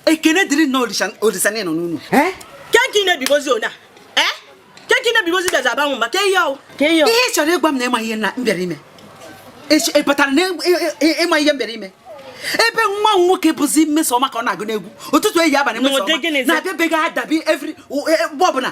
ekene dịrị nna olisa na nọ n'enu ke nke ị na-ebigbọzi ọnụ a ke nke ị na-ebigbọzi bịazi aba mụ mba ke ihe ọ wụ ihe ị chọrọ ịgwa m na ị ma ihe m bịara ime ị pụtara na ị ma ihe m bịara ime ebe nwa m nwoke bụzi mmesoma ka ọ na-agụ n'egwu ụtụtụ ehihie abalị mmesoma na-abịa be gị adabi every mgbe ọbụla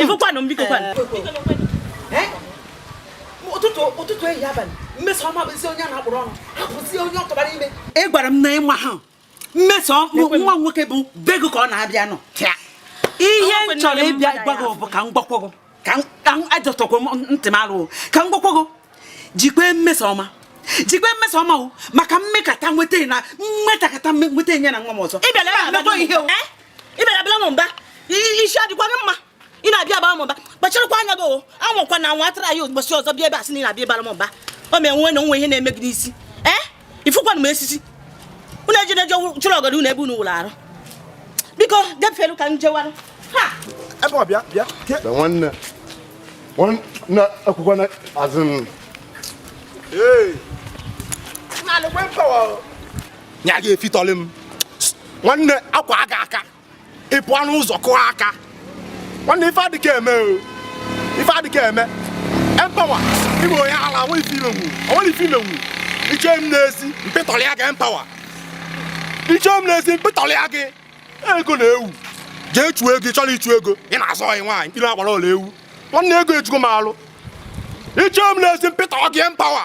ị fụkwanụ m biko ụtụtụ ụtụtụ ehihie abalị mmesoma bụzi onye a na-akpụrụ ọnụ hapụzi onye ọ tụbara ime ị gwara m na ị maha mmeso nwa m nwoke bụ be gị ka ọ na-abịa anọ ihe m chọrọ ịbịa gwa gị bụ ka m gwakwọ gị ka adọtụkwa ntị m alụ ka m gwakwa gị jikwa mmesoma jikwa mmesoma o maka m mekata nweta na m mekata nweta ya na nwa m ọzọ ị bịara abara m mba isi adịkwa gị mma ị na-abịa abara m mba kpacharakwa anya gị o anwakwana anwa try ya ụbọchị ọzọ bịa ebe a sị na ị na-abịa ịbara m mba o mee nwe na o nwe ihe na-eme gị n'isi ee eh? ị fụkwanụ m esisi unu ejide je chịrị ọgọdọ unu ebe unu wụrụ arụ biko depụrụ ka m jewanụ ha ebe ọ bịa bịa ke na nwanne nwanne akwụkwọ na azụ m ee na-alụkwe mpawa o nya gị efitọlị m nwanne akwa aga aka ị pụọ n'ụzọ kụọ aka nwanne ife adịka eme o ife adịka eme empawa ị bụ onye ala o nwe ife ị menwu o nwe ife ị menwu iche m na-esi mpịtọrọ ya gị empawa iche m na-esi mpịtọrọ ya gị ego na-ewu jee chụọ ego ị chọrọ ịchụ ego ị na-azọ ọyị nwaanyị mkpiri agbara ọla ewu nwanne ego ejugo m alụ iche m na-esi mpịtọrọ gị empawa